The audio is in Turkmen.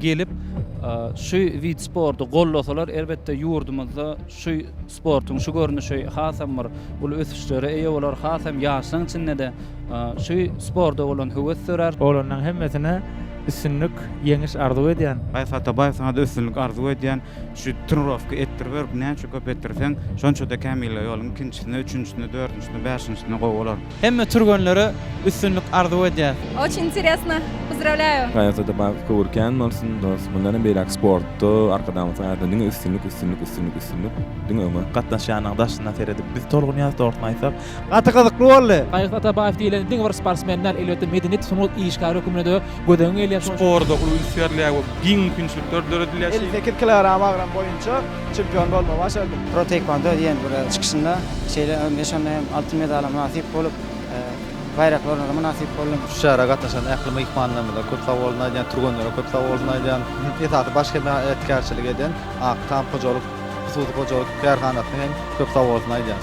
gelip şu wid sporty gollasalar elbetde ýurdumyzda şu sportuň şu görnüşi hasam bir uly ösüşlere eýe bolar hasam ýaşlaň içindede şu sporda bolan höwes dörär. Olanlaň hemmesine üstünlik ýeňiş arzuw edýän. Gaýyş Atabaýew saňada üstünlik arzuw edýän şu trnirowka etdirberip näçe köp etdirseň şonçada kämille ýoluň ikinjisinde üçünjisinde dördünjisinde bäşinjisinde gowy bolar. Hemme türgenlere üstünlik arzuw edýäs. Oç interesno pozdravlýaýu. Gaýasada bagyt köwür kän bolsun dos mundanam beýläk sportda arkadagymyz saýasynda diňe üstünlik üstünlik üstünlik üstünlik diňe öňe. Gatnaşýanyň daşyna seredip biz tolgunýas dogrysyny aýtsak. Gaty gyzykly boldy. Gaýgyt Atabaýew diýlen diňe bir sportsmen däl, elbetde medeniýet sungat işgäri höküminde gözegiň gelýär. Sporda uly üns berilýär we giň mümkinçilikler döredilýär. Elli sekiz kilogram agram boýunça Çempion bolmagy başardym. Pro taekwondo diýen bir çykyşynda şeýle hem we şonda hem altyn medala mynasyp bolup, baýrakly orna-da mynasyp boldum. Şu çärä gatnaşan ähli myhmanlarymyza köp sag bolsun aýdýan, türgenlere köp sag bolsun aýdýan. Esasy baş hemaýatkärçilik eden Ak tam hojalyk hususy hojalyk kärhanasyna hem köp sag bolsun aýdýan.